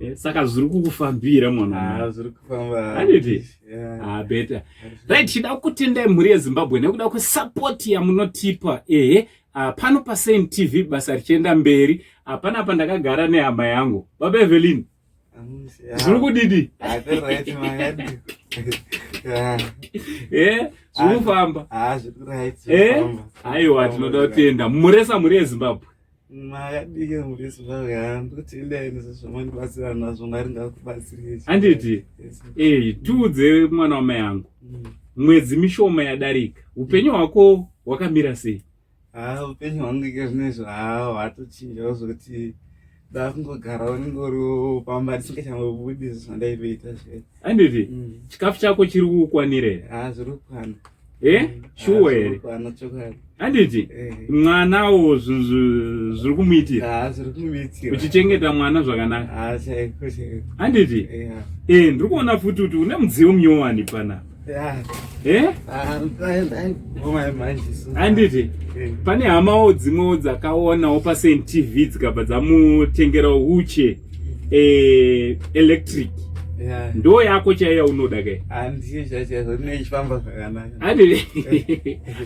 Eh, saka zviri kukufambira mwanaaaniti ah, ah, beta right tida kutendai mhuri yezimbabwe nekuda kwesapoti yamunotipa ehe ah, pano pasain tv basa richienda mberi hapana apa ndakagara nehama yangu baba evelin zviri kudidi eh, zviri kufamba aiwa tinoda kutenda muresa mhuri yezimbabwe makadii murisi zvaandibatsira nazvo mwari ngakubatsirei handiti ei tiudze mwana wamai yangu mm. mwedzi mishoma yadarika upenyu hwako hwakamira sei haa upenyu hwangu ike zvinezvo haa hwatochinjawo zvokuti ndakungogara unenge uriwo pamba ndisingachambobudiso zvandaivoita zvee anditi mm. chikafu chako chiri kukwanira here ah, eh? mm. ah, shuwa here anditi eh. mwanawo zviri kumuitira ah, uchichengeta mwana zvakanaka anditi eh, ndiri kuona futi kuti une mudziyo munyowani panapa anditi pane hamawo dzimwewo dzakaonawo pasentv dzikabva dzamutengerawo uche eh, electric yeah. ndo yako chaiyo yaunoda kai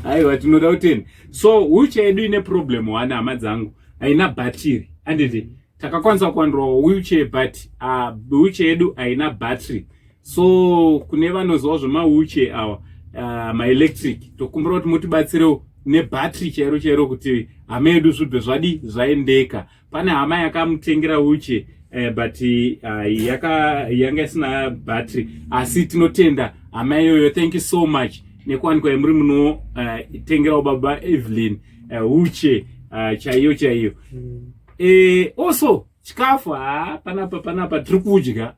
aiwa tinoda kuteni so wheelchair yedu ine problem one hama dzangu haina bhatiri anditi takakwanisa kuwandirwa wheelchair but uh, wheelchair yedu haina battery so kune vanoziva zvemawheelchair awa uh, maelectric tokumbira kuti mutibatsirewo nebattery chairo chairo kuti hama yedu zvibve zvadi zvaendeka pane hama yakamutengera uche eh, but uh, yaka yanga isina battery asi tinotenda hama iyoyo thank you so much nekuwanikwa yemuri munotengerawo eh, uh, baba evelyn uh, uche uh, chaiyo chaiyo mm. e, also chikafu ha panapa panapa tiri kudya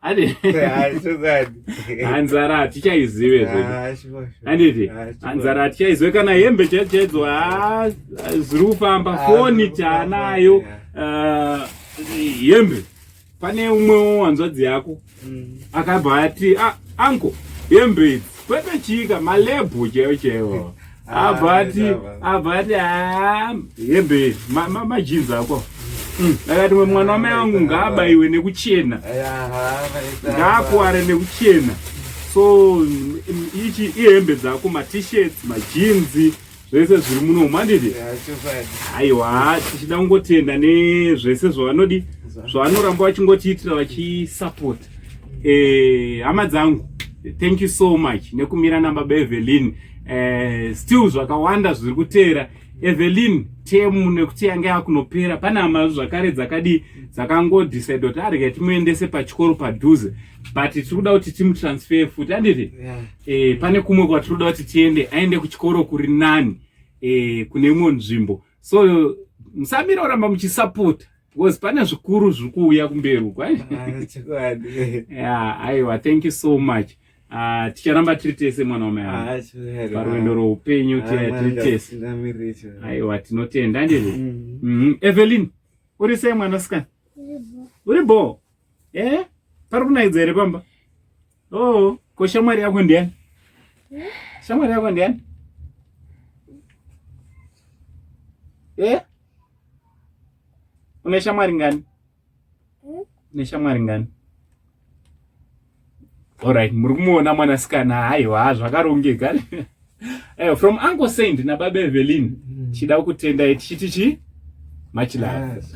hanzara hatichaizive handiti hanzara hatichaizive kana hembe chaidzo chaidzo ha ziri kufamba foni taanayo hembe pane umwewo hanzvadzi yako mm. akabva ati anko hembe idzi kwete chika malebhu chaiwo chaiwo abati abati ah, hembe majinzi ako mm. akati mwana wamai wangu ngaabaiwe nekuchena ngaakuware nekuchena so mm, ichi ihembe dzako matishirts majinzi zvese zviri muno mandidi aiwa tichida kungotenda nezvese zvavanodi zvavanoramba vachingotiitira vachisapota eh, hama eh, dzangu thank you so much nekumira na baba Evelyn eh, still zvakawanda zviri kuteera Evelyn temu nekuti yange yakunopera pane hama zvakare dzakadi dzakangodecide kuti arege timuendese pachikoro padhuze but tiri kuda kuti timutransfer futi anditi yeah. eh, pane kumwe kwatiri kuda kuti tiende aende kuchikoro kuri nani eh, kune imwe nzvimbo so musamira oramba muchisapota because pane zvikuru zviri kuuya kumberi uko ah, aiwa thank you so much ah, ticharamba tiri tese mwana wamai ah, parwendo roupenyu tiri tese aiwa tinotenda andizvo mm-hmm. mm-hmm. evelyn uri sei mwanasikana uri bho e eh? pari kunaidza here pamba Oh, ko shamwari yako ndiani? Shamwari yako ndiani? Eh? Une shamwari ngani? Une shamwari ngani? Alright, muri kumuona mwanasikana haiwa zvakarongeka. Eh, from Uncle Saint na Baba Evelyn. Mm. Chida kutenda tichiti chi? Much love. Yes.